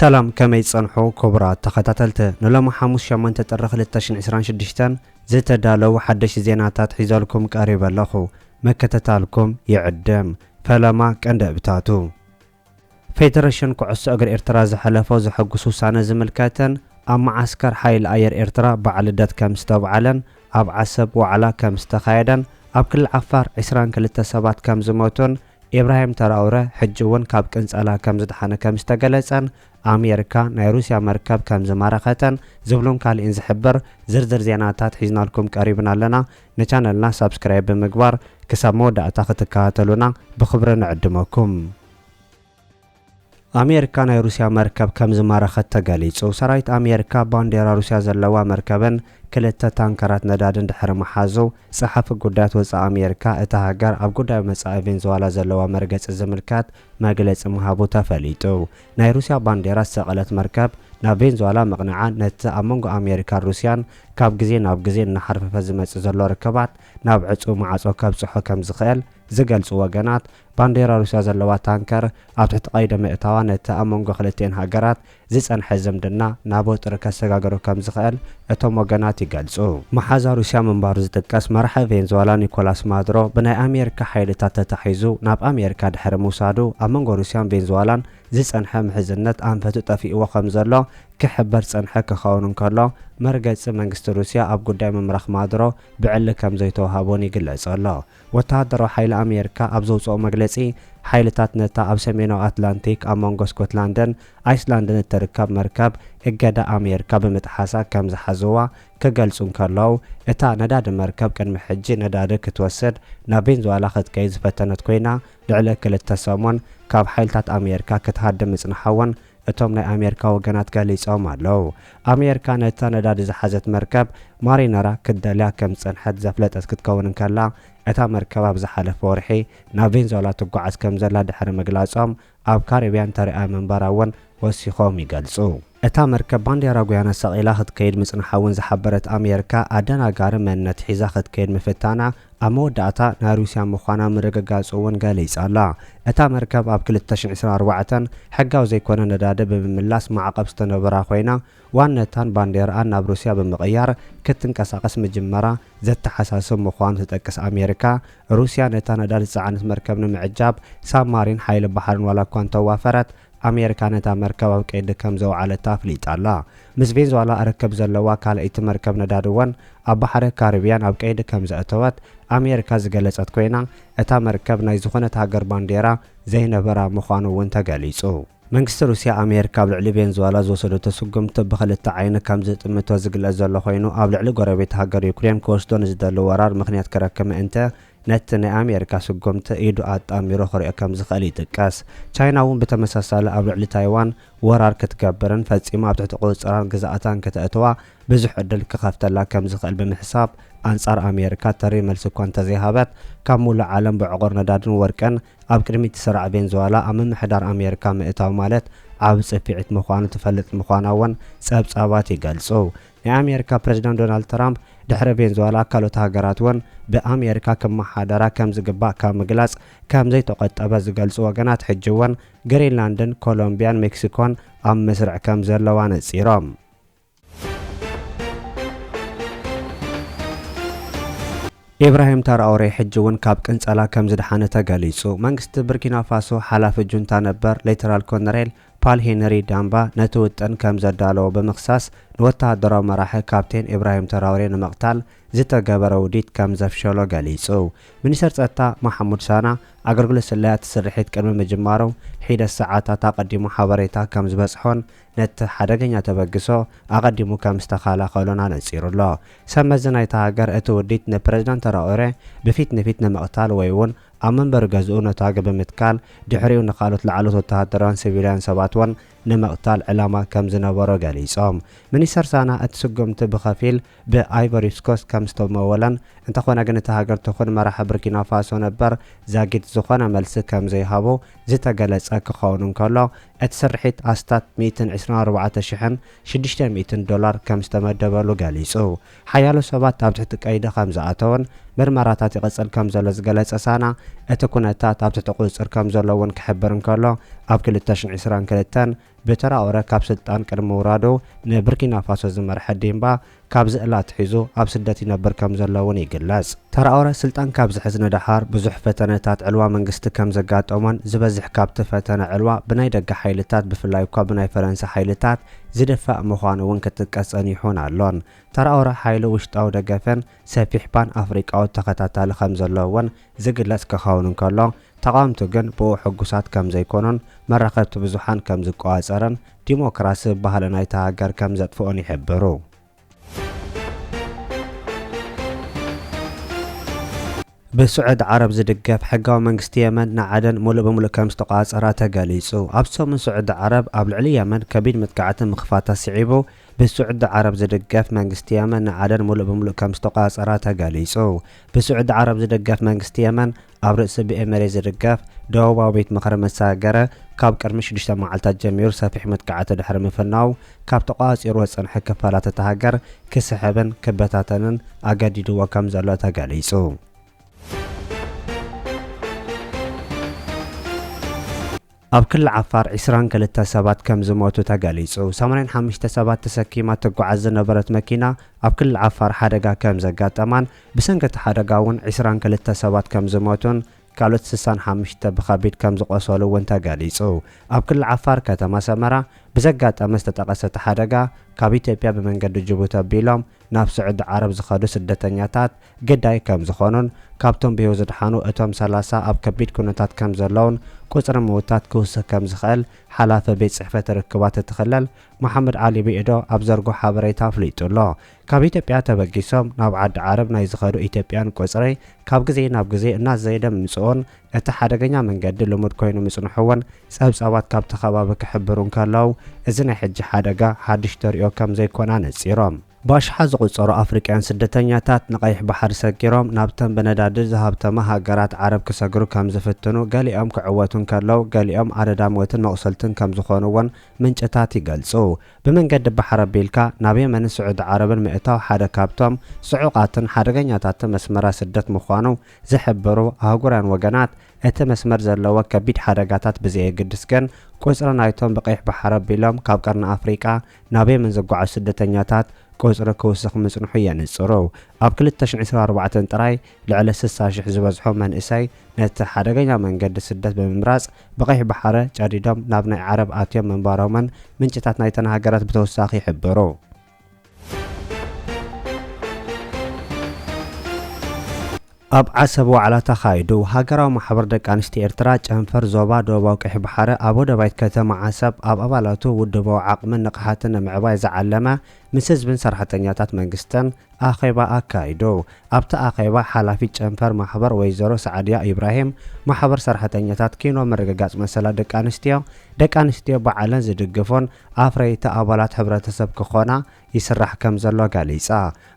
ሰላም ከመይ ትጸንሑ ክቡራት ተኸታተልቲ ንሎሚ ሓሙስ ሸሞንተ ጥሪ ክልተ ሽሕን ዕስራን ሽዱሽተን ዝተዳለዉ ሓደሽቲ ዜናታት ሒዘልኩም ቀሪበ ኣለኹ ምክትታልኩም ይዕድም ፈለማ ቀንዲ እብታቱ ፌደረሽን ኩዕሶ እግሪ ኤርትራ ዝሐለፎ ዘሐጉስ ውሳነ ዝምልከትን ኣብ መዓስከር ሐይሊ ኣየር ኤርትራ በዓል ልደት ከም ዝተብዓለን ኣብ ዓሰብ ዋዕላ ከም ዝተኻየደን ኣብ ክልል ዓፋር ዕስራን ክልተ ሰባት ከም ዝሞቱን ኢብራሂም ተራኡረ ሕጂ እውን ካብ ቅንጸላ ከም ዝደሓነ ከም ዝተገለጸን ኣሜርካ ናይ ሩስያ መርከብ ከም ዝማረኸተን ዝብሉን ካሊእን ዝሕብር ዝርዝር ዜናታት ሒዝናልኩም ቀሪብና ኣለና። ንቻነልና ሳብስክራይብ ብምግባር ክሳብ መወዳእታ ክትከታተሉና ብኽብሪ ንዕድመኩም። ኣሜሪካ ናይ ሩስያ መርከብ ከም ዝማረኸት ተገሊጹ። ሰራዊት ኣሜሪካ ባንዴራ ሩስያ ዘለዋ መርከብን ክልተ ታንከራት ነዳድን ድሕሪ ምሓዙ፣ ጸሓፊ ጉዳያት ወጻኢ ኣሜሪካ እታ ሃገር ኣብ ጉዳይ መጻኢ ቬንዝዋላ ዘለዋ መርገጺ ዝምልከት መግለጺ ምሃቡ ተፈሊጡ። ናይ ሩስያ ባንዴራ ዝሰቐለት መርከብ ናብ ቬንዙዋላ ምቕናዓ ነቲ ኣብ መንጎ ኣሜሪካን ሩስያን ካብ ግዜ ናብ ግዜ እናሓርፈፈ ዝመጽእ ዘሎ ርክባት ናብ ዕጹው ማዕጾ ከብጽሖ ከም ዝኽእል ዝገልጹ ወገናት፣ ባንዴራ ሩስያ ዘለዋ ታንከር ኣብ ትሕቲ ቀይዲ ምእታዋ ነቲ ኣብ መንጎ ክልቲኤን ሃገራት ዝጸንሐ ዝምድና ናብ ወጥሪ ከሰጋግሮ ከም ዝኽእል እቶም ወገናት ይገልጹ። መሓዛ ሩስያ ምንባሩ ዝጥቀስ መራሒ ቬንዝዋላ ኒኮላስ ማዱሮ ብናይ ኣሜሪካ ሓይልታት ተታሒዙ ናብ ኣሜሪካ ድሕሪ ምውሳዱ ኣብ መንጎ ሩስያን ቬንዝዋላን ዝጸንሐ ምሕዝነት ኣንፈቱ ጠፊእዎ ከም ዘሎ ክሕበር ዝጸንሐ ክኸውን እንከሎ መርገጺ መንግስቲ ሩስያ ኣብ ጉዳይ ምምራኽ ማዱሮ ብዕሊ ከም ዘይተወሃቦን ይግለጽ ኣሎ። ወተሃደራዊ ሓይሊ ኣሜሪካ ኣብ ዘውጽኦ መግለጺ፣ ሓይልታት ነታ ኣብ ሰሜናዊ ኣትላንቲክ ኣብ መንጎ ስኮትላንድን ኣይስላንድን እትርከብ መርከብ እገዳ ኣሜሪካ ብምጥሓሳ ከም ዝሓዝዋ ክገልጹ እንከለዉ፣ እታ ነዳዲ መርከብ ቅድሚ ሕጂ ነዳዲ ክትወስድ ናብ ቬንዙዋላ ክትከይድ ዝፈተነት ኮይና ልዕሊ ክልተ ሰሙን ካብ ሓይልታት ኣሜሪካ ክትሃድም ምጽንሓ'ውን እቶም ናይ ኣሜርካ ወገናት ገሊጾም ኣለው። ኣሜርካ ነታ ነዳዲ ዝሓዘት መርከብ ማሪነራ ክትደልያ ከም ዝጸንሐት ዘፍለጠት ክትከውን እንከላ፣ እታ መርከብ ኣብ ዝሓለፈ ወርሒ ናብ ቬንዙዌላ ትጓዓዝ ከም ዘላ ድሕሪ ምግላጾም ኣብ ካሪብያን ተርእያ ምንባራ'ውን ወሲኾም ይገልጹ። እታ መርከብ ባንዴራ ጉያና ሰቒላ ክትከይድ ምጽንሓ'ውን ዝሓበረት ኣሜርካ፣ ኣደናጋሪ መንነት ሒዛ ክትከይድ ምፍታና ኣብ መወዳእታ ናይ ሩስያ ምዃና ምርግጋጽ'ውን ገሊጻ ኣላ። እታ መርከብ ኣብ ክልተ ሽሕ ዕስራን ኣርባዕተን ሕጋዊ ዘይኮነ ነዳዲ ብምምላስ ማዕቐብ ዝተነበራ ኮይና፣ ዋነታን ባንዴራኣን ናብ ሩስያ ብምቕያር ክትንቀሳቐስ ምጅመራ ዘተሓሳስብ ምዃኑ ትጠቅስ ኣሜሪካ፣ ሩስያ ነታ ነዳዲ ዝጸዓነት መርከብ ንምዕጃብ ሳብማሪን ሓይሊ ባሕርን ዋላ'ኳ እንተዋፈረት፣ ኣሜሪካ ነታ መርከብ ኣብ ቀይዲ ከም ዘውዓለታ ኣፍሊጣ ኣላ። ምስ ቬንዝዋላ ርክብ ዘለዋ ካልኣይቲ መርከብ ነዳዲ'ውን ኣብ ባሕሪ ካሪብያን ኣብ ቀይዲ ከም ዘእተወት ኣሜሪካ ዝገለጸት ኮይና፣ እታ መርከብ ናይ ዝኾነት ሃገር ባንዴራ ዘይነበራ ምዃኑ'ውን ተገሊጹ። መንግስቲ ሩስያ፣ ኣሜሪካ ኣብ ልዕሊ ቬንዝዋላ ዝወሰደቶ ስጉምቲ ብኽልተ ዓይኒ ከም ዝጥምቶ ዝግለጽ ዘሎ ኮይኑ፣ ኣብ ልዕሊ ጎረቤት ሃገር ዩክሬን ክወስዶ ንዝደሊ ወራር ምኽንያት ክረክብ ምእንተ፣ ነቲ ናይ ኣሜሪካ ስጉምቲ ኢዱ ኣጣሚሩ ክሪኦ ከም ዝኽእል ይጥቀስ። ቻይና እውን ብተመሳሳሊ ኣብ ልዕሊ ታይዋን ወራር ክትገብርን ፈጺማ ኣብ ትሕቲ ቁጽጽራን ግዝኣታን ክተእትዋ ብዙሕ ዕድል ክኸፍተላ ከም ዝኽእል ብምሕሳብ ኣንጻር ኣሜሪካ ተሪር መልሲ እኳ እንተዘይሃበት ካብ ምሉእ ዓለም ብዕቑር ነዳድን ወርቅን ኣብ ቅድሚት ትስራዕ ቬንዝዋላ ኣብ ምምሕዳር ኣሜሪካ ምእታው ማለት ዓቢ ጽፊዒት ምዃኑ ትፈልጥ ምዃና እውን ጸብጻባት ይገልጹ። ናይ ኣሜሪካ ፕረዚዳንት ዶናልድ ትራምፕ ድሕሪ ቬንዙዋላ ካልኦት ሃገራት እውን ብኣሜሪካ ክመሓደራ ከም ዝግባእ ካብ ምግላፅ ከም ዘይተቖጠበ ዝገልፁ ወገናት ሕጂ እውን ግሪንላንድን ኮሎምቢያን ሜክሲኮን ኣብ መስርዕ ከም ዘለዋ ነፂሮም። ኢብራሂም ታራኦሬ ሕጂ እውን ካብ ቅንፀላ ከም ዝደሓነ ተገሊፁ። መንግስቲ ብርኪናፋሶ ሓላፊ ጁንታ ነበር ሌተናል ኮነሬል ፓል ሄነሪ ዳምባ ነቲ ውጥን ከም ዘዳለዎ ብምኽሳስ፣ ንወተሃደራዊ መራሒ ካፕቴን ኢብራሂም ተራውሬ ንምቕታል ዝተገበረ ውዲት ከም ዘፍሸሎ ገሊጹ። ሚኒስተር ጸጥታ ማሕሙድ ሳና፣ ኣገልግሎት ስለያ እቲ ስርሒት ቅድሚ ምጅማሩ ሒደት ሰዓታት ኣቐዲሙ ሓበሬታ ከም ዝበጽሖን ነቲ ሓደገኛ ተበግሶ ኣቐዲሙ ከም ዝተኸላኸሎን ኣነጺሩ ኣሎ። ሰብ መዚ ናይታ ሃገር እቲ ውዲት ንፕረዚዳንት ተራኦሬ ብፊት ንፊት ንምቕታል ወይ'ውን ኣብ መንበሪ ገዝኡ ነታጒ ብምትካል ድሕሪኡ ንኻልኦት ላዕለዎት ወተሃደራውያን ሲቪላውያን ሰባት'ውን ንምቕታል ዕላማ ከም ዝነበሮ ገሊጾም። ሚኒስተር ሳና እቲ ስጉምቲ ብኸፊል ብኣይቮሪስኮስት ከም ዝተመወለን እንተኾነ ግን እታ ሃገር ትኹን መራሒ ቡርኪናፋሶ ነበር ዛጊት ዝኾነ መልሲ ከም ዘይሃቡ ዝተገለጸ ክኸውን እንከሎ እቲ ስርሒት ኣስታት ሚእትን ዕስራን ኣርባዕተ ሽሕን ሽዱሽተ ሚእትን ዶላር ከም ዝተመደበሉ ገሊጹ። ሓያሎ ሰባት ኣብ ትሕቲ ቀይዲ ከም ዝኣተወን ምርመራታት ይቕጽል ከም ዘሎ ዝገለጸ ሳና፣ እቲ ኩነታት ኣብ ትሕቲ ቁጽጽር ከም ዘሎ እውን ክሕብር እንከሎ፣ ኣብ ክልተ ሽሕን ዕስራን ክልተን ብትራኦረ ካብ ስልጣን ቅድሚ ምውራዱ ንብርኪናፋሶ ዝመርሐ ዲምባ ካብዚ እላ ኣትሒዙ ኣብ ስደት ይነብር ከም ዘሎ እውን ይግለጽ። ተራኦረ ስልጣን ካብ ዝሕዝ ንደሓር ብዙሕ ፈተነታት ዕልዋ መንግስቲ ከም ዘጋጠሞን ዝበዝሕ ካብቲ ፈተነ ዕልዋ ብናይ ደገ ሓይልታት ብፍላይ እኳ ብናይ ፈረንሳ ሓይልታት ዝድፋእ ምዃኑ እውን ክጥቀስ ጸኒሑን ኣሎን። ተራኦረ ሓይሉ ውሽጣዊ ደገፍን ሰፊሕ ፓን ኣፍሪቃዊ ተኸታታሊ ከም ዘለዎ እውን ዝግለጽ ክኸውን እንከሎ፣ ተቓወምቱ ግን ብእኡ ሕጉሳት ከም ዘይኮኑን መራኸብቲ ብዙሓን ከም ዝቆጻጸርን ዲሞክራሲ ባህሊ ናይታ ሃገር ከም ዘጥፍኦን ይሕብሩ። ብስዑዲ ዓረብ ዝድገፍ ሕጋዊ መንግስቲ የመን ንዓደን ሙሉእ ብሙሉእ ከምዝተቖፃፀራ ተገሊፁ። ኣብ ሰሙን ስዑዲ ዓረብ ኣብ ልዕሊ የመን ከቢድ መጥቃዕቲ ምኽፋታ ስዒቡ ብስዑዲ ዓረብ ዝድገፍ መንግስቲ የመን ንዓደን ሙሉእ ብሙሉእ ከምዝተቖፃፀራ ተገሊፁ። ብስዑዲ ዓረብ ዝድገፍ መንግስቲ የመን ኣብ ርእሲ ብኤ መሬት ዝድገፍ ደቡባዊ ቤት ምኽሪ ምስ ሰገረ ካብ ቅድሚ ሽዱሽተ መዓልታት ጀሚሩ ሰፊሕ መጥቃዕቲ ድሕሪ ምፍናዉ ካብ ተቖጻጺርዎ ዝጸንሐ ክፋላት እታ ሃገር ክስሕብን ክበታተንን ኣገዲድዎ ከምዘሎ ተገሊጹ። ኣብ ክሊ ዓፋር ዕስራን ክልተ ሰባት ከም ዝሞቱ ተገሊጹ። ሰማንያን ሓሙሽተ ሰባት ተሰኪማ እትጓዓዝ ዝነበረት መኪና ኣብ ክሊ ዓፋር ሓደጋ ከም ዘጋጠማን ብሰንኪ እቲ ሓደጋ እውን ዕስራን ክልተ ሰባት ከም ዝሞቱን ካልኦት ስሳን ሓሙሽተ ብኸቢድ ከም ዝቖሰሉ እውን ተገሊጹ። ኣብ ክሊ ዓፋር ከተማ ሰመራ ብዘጋጠመ ዝተጠቐሰ እቲ ሓደጋ ካብ ኢትዮጵያ ብመንገዲ ጅቡቲ ኣቢሎም ናብ ስዑዲ ዓረብ ዝኸዱ ስደተኛታት ግዳይ ከም ዝኾኑን ካብቶም ብህይወት ዝድሓኑ እቶም ሰላሳ ኣብ ከቢድ ኩነታት ከም ዘለዉን ቁጽሪ ምውታት ክውስኽ ከም ዝኽእል ሓላፊ ቤት ጽሕፈት ርክባት እቲ ክልል መሓመድ ዓሊ ብኢዶ ኣብ ዘርግሖ ሓበሬታ ኣፍሊጡ ኣሎ። ካብ ኢትዮጵያ ተበጊሶም ናብ ዓዲ ዓረብ ናይ ዝኸዱ ኢትዮጵያን ቁጽሪ ካብ ግዜ ናብ ግዜ እናዘየደ ምምጽኡን እቲ ሓደገኛ መንገዲ ልሙድ ኮይኑ ምጽንሑ'ውን ጸብጻባት ካብቲ ከባቢ ክሕብሩ እንከለዉ እዚ ናይ ሕጂ ሓደጋ ሓድሽ ተርእዮ ከም ዘይኮነ ኣነጺሮም። ብኣሽሓት ዝቑጸሩ ኣፍሪቃውያን ስደተኛታት ንቀይሕ ባሕሪ ሰጊሮም ናብተን ብነዳዲ ዝሃብተማ ሃገራት ዓረብ ክሰግሩ ከም ዝፍትኑ፣ ገሊኦም ክዕወቱ እንከለዉ ገሊኦም ኣደዳ ሞትን መቑሰልትን ከም ዝኾኑ'ውን ምንጭታት ይገልጹ። ብመንገዲ ባሕሪ ኣቢልካ ናብ የመንን ስዑዲ ዓረብን ምእታው ሓደ ካብቶም ጽዑቓትን ሓደገኛታትን መስመራት ስደት ምዃኑ ዝሕብሩ ኣህጉራውያን ወገናት፣ እቲ መስመር ዘለዎ ከቢድ ሓደጋታት ብዘየግድስ ግን ቁጽሪ ናይቶም ብቀይሕ ባሕሪ ኣቢሎም ካብ ቀርኒ ኣፍሪቃ ናብ የመን ዝጓዓዙ ስደተኛታት ቁጽሪ ክውስኽ ምጽንሑ የንጽሩ። ኣብ ክልተ ሽሕ ዕስራን ኣርባዕተን ጥራይ ልዕሊ ስሳ ሽሕ ዝበዝሑ መንእሰይ ነቲ ሓደገኛ መንገዲ ስደት ብምምራጽ ብቀይሕ ባሕሪ ጨዲዶም ናብ ናይ ዓረብ ኣትዮም ምንባሮምን ምንጭታት ናይተን ሃገራት ብተውሳኺ ይሕብሩ። ኣብ ዓሰብ ዋዕላ ተኻይዱ። ሃገራዊ ማሕበር ደቂ ኣንስትዮ ኤርትራ ጨንፈር ዞባ ደቡባዊ ቀይሕ ባሕረ ኣብ ወደባይት ከተማ ዓሰብ ኣብ ኣባላቱ ውድባዊ ዓቕምን ንቕሓትን ንምዕባይ ዝዓለመ ምስ ህዝብን ሰራሕተኛታት መንግስትን ኣኼባ ኣካይዱ። ኣብቲ ኣኼባ ሓላፊት ጨንፈር ማሕበር ወይዘሮ ሰዓድያ ኢብራሂም ማሕበር ሰራሕተኛታት ኪኖ ምርግጋፅ መሰላት ደቂ ኣንስትዮ ደቂ ኣንስትዮ ባዕለን ዝድግፉን ኣፍረይቲ ኣባላት ሕብረተሰብ ክኾና ይስራሕ ከምዘሎ ገሊጻ።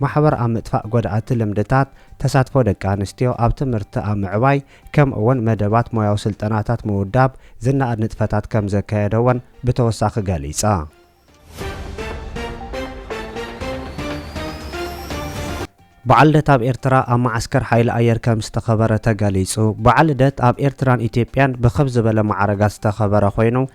ማሕበር ኣብ ምጥፋእ ጎዳእቲ ልምድታት፣ ተሳትፎ ደቂ ኣንስትዮ ኣብ ትምህርቲ ኣብ ምዕባይ ከምኡ'ውን መደባት ሞያዊ ስልጠናታት ምውዳብ ዝነኣድ ንጥፈታት ከምዘካየደ'ውን ብተወሳኺ ገሊጻ። በዓል ልደት ኣብ ኤርትራ ኣብ መዓስከር ሓይሊ ኣየር ከምዝተኸበረ ተገሊጹ። በዓል ልደት ኣብ ኤርትራን ኢትዮጵያን ብክብ ዝበለ መዓርጋት ዝተኸበረ ኮይኑ፣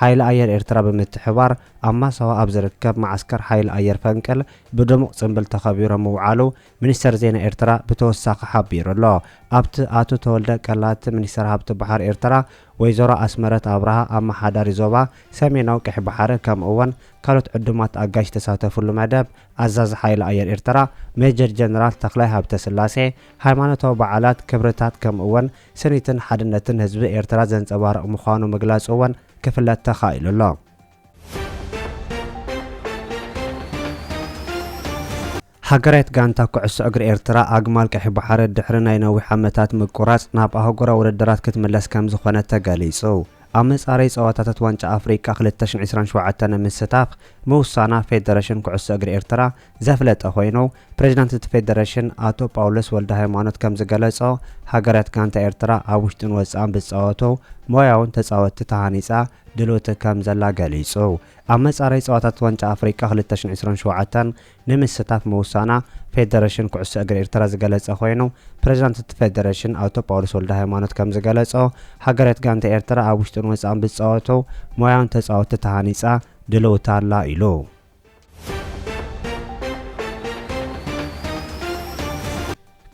ሓይሊ ኣየር ኤርትራ ብምትሕብባር ኣብ ማሳዋ ኣብ ዝርከብ መዓስከር ሓይሊ ኣየር ፈንቅል ብድሙቕ ጽንብል ተኸቢሩ ምውዓሉ ሚኒስተር ዜና ኤርትራ ብተወሳኺ ሓቢሩ'ሎ። ኣብቲ ኣቶ ተወልደ ቀላቲ ሚኒስተር ሃብቲ ባሕሪ ኤርትራ ወይዘሮ ኣስመረት ኣብርሃ ኣመሓዳሪ ዞባ ሰሜናዊ ቀይሕ ባሕሪ ከምኡ'ውን ካልኦት ዕዱማት ኣጋይሽ ዝተሳተፍሉ መደብ ኣዛዚ ሓይሊ ኣየር ኤርትራ ሜጀር ጀነራል ተኽላይ ሃብተስላሴ ሃይማኖታዊ በዓላት ክብርታት ከምኡ'ውን ስኒትን ሓድነትን ህዝቢ ኤርትራ ዘንጸባርቕ ምዃኑ ምግላጹ'ውን ክፍለጥ ተኻኢሉ ኣሎ። ሃገራዊት ጋንታ ኩዕሶ እግሪ ኤርትራ፣ ኣግማል ቀይሕ ባሕሪ ድሕሪ ናይ ነዊሕ ዓመታት ምቁራጽ፣ ናብ ኣህጉራዊ ውድድራት ክትምለስ ከምዝኾነት ተገሊጹ። ኣብ መጻረዪ ጸወታታት ዋንጫ ኣፍሪቃ ክልተ ሽሕን ዒስራን ሸውዓተን ንምስታፍ ምውሳና፣ ፌደረሽን ኩዕሶ እግሪ ኤርትራ፣ ዘፍለጠ ኮይኑ፣ ፕሬዚዳንት እቲ ፌዴሬሽን ኣቶ ጳውሎስ ወልደሃይማኖት ከምዝገለፆ ሃገራት ጋንታ ኤርትራ ኣብ ውሽጥን ወፃእን ብዝፃወቱ ሞያውን ተፃወትቲ ተሃኒፃ ድልውቲ ከምዘላ ገሊፁ። ኣብ መፃረይ ፀዋታታት ዋንጫ ኣፍሪቃ ክልተ ሽሕን ዕስራን ሸውዓተን ንምስታፍ ምውሳና ፌዴሬሽን ኩዕሶ እግሪ ኤርትራ ዝገለፀ ኮይኑ፣ ፕሬዚዳንት እቲ ፌዴሬሽን ኣቶ ጳውሎስ ወልደሃይማኖት ከምዝገለፆ ሃገራት ጋንታ ኤርትራ ኣብ ውሽጥን ወፃእን ብዝፃወቱ ሞያውን ተፃወትቲ ተሃኒፃ ድልውቲ ኣላ ኢሉ።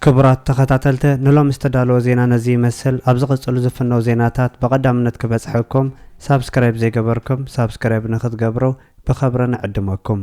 ክቡራት ተኸታተልተ ንሎሚ ዝተዳለወ ዜና ነዚ ይመስል ኣብ ዝቕጽሉ ዝፍነው ዜናታት ብቐዳምነት ክበጽሐኩም ሳብስክራይብ ዘይገበርኩም ሳብስክራይብ ንክትገብሩ ብኸብሪ ንዕድመኩም